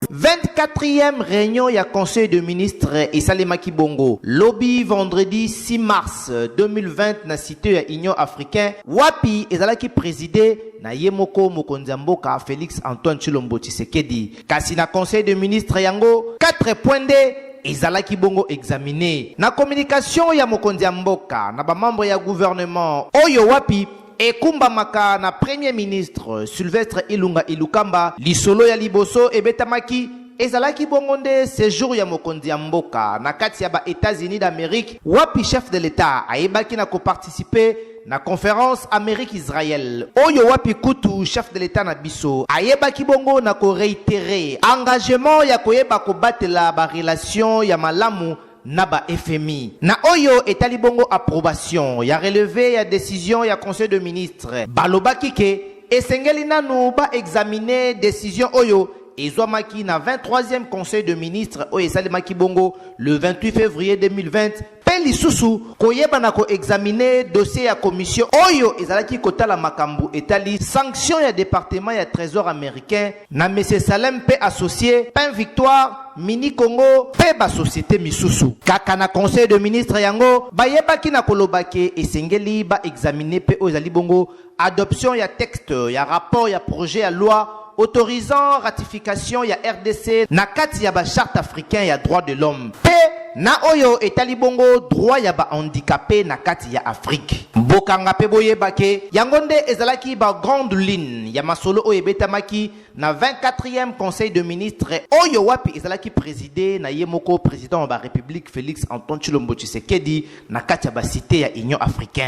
24e reunion ya Conseil de ministres esalemaki bongo lobi vendredi 6 mars 2020 na site ya Union africain wapi ezalaki preside na ye moko mokonzi ya mboka Felix Antoine Tshilombo Tshisekedi. Kasi na Conseil de ministres yango 4 points nde ezalaki bongo examine na communication ya mokonzi ya mboka na bamembre ya gouvernement oyo wapi Ekumbamaka na Premier ministre Sylvestre Ilunga Ilukamba, lisolo ya liboso ebetamaki ezalaki bongo nde sejour ya mokonzi ya mboka na kati ya ba Etats-Unis d'Amerique, wapi chef de l'Etat ayebaki na ko participer na conference Amerique-Israël oyo wapi kutu chef de l'Etat na biso ayebaki bongo na ko reiterer engagement ya koyeba kobatela ba relations ya malamu na ba FMI. Na oyo etali bongo approbation ya releve ya decision ya Conseil de ministres, balobaki ke esengeli nanu ba examiner decision oyo ezwamaki na 23e Conseil de ministres oyo esalemaki bongo le 28 fevrier 2020 mpe lisusu koyeba na ko examiner dossier ya commission oyo ezalaki kotala makambo etali sanction ya departement ya tresor americain na Monsieur Salem mpe associe Pain Victoire mini congo mpe basosiete misusu kaka na conseil de ministre yango bayebaki na koloba ke esengeli baexamine mpe oyo ezali bongo adoption ya texte ya rapport ya projet ya loi autorisant ratification ya rdc na kati ya bacharte africain ya droit de l'homme mpe Na oyo etali bongo droit ya ba handicapes na kati ya Afrique, bokanga mpe boyeba ke yango nde ezalaki ba grandes lignes ya masolo oyo ebetamaki na 24ieme Conseil de ministres oyo wapi ezalaki preside na ye moko president wa ba Republique Felix Antoine Tshilombo Tshisekedi na kati ya ba cites ya Union africain.